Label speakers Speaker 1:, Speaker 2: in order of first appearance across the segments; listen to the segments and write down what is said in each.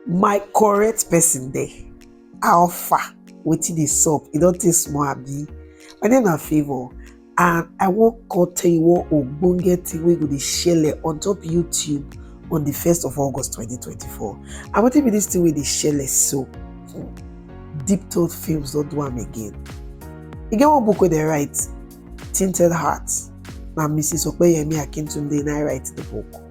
Speaker 1: my correct person there how far wetin dey sup e don take small abi my name na favour and i wan come tell you one ogbonge thing wey go dey shele on top youtube on the 1st of august 2024 and wetin be this thing wey dey shele so hmm, deep thought films don do am again e get one book wey dey write tinted heart na mrs opeyemi akintunde na i write the book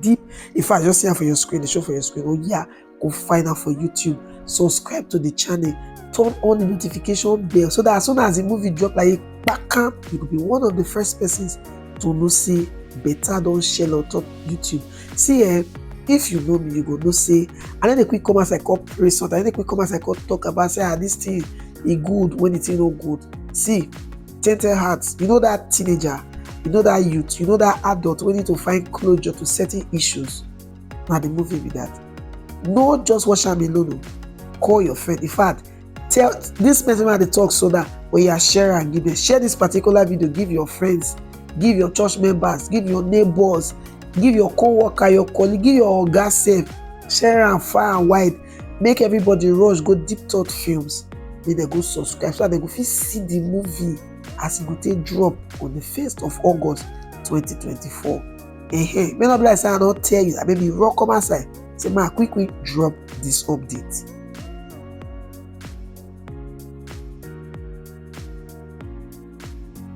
Speaker 1: deep in fact just see am for your screen dey show for your screen oh yeah go find am for youtube subscribe to the channel turn on the notification bell so that as soon as the movie drop like kpakam you go be one of the first persons to know say better don shell on top youtube see eh if you know me you go know say i no dey quick come outside come pray something i no dey quick come outside come talk about say ah this thing e good when the thing no good see tender heart you know that teenager you know that youth you know that adult wey need to find closure to certain issues na the movie be that no just watch am alone o call your friend in fact tell this person wey i dey talk so that oya share am give them share this particular video give your friends give your church members give your neighbors give your co-worker your colleague give your oga sef share am far and wide make everybody rush go deep thought films make dem go subscribe so that dem go fit see the movie as e go take drop on the first of august 2024 ehe may not be like say i don tell you abi be raw come outside say ma quick quick drop this update.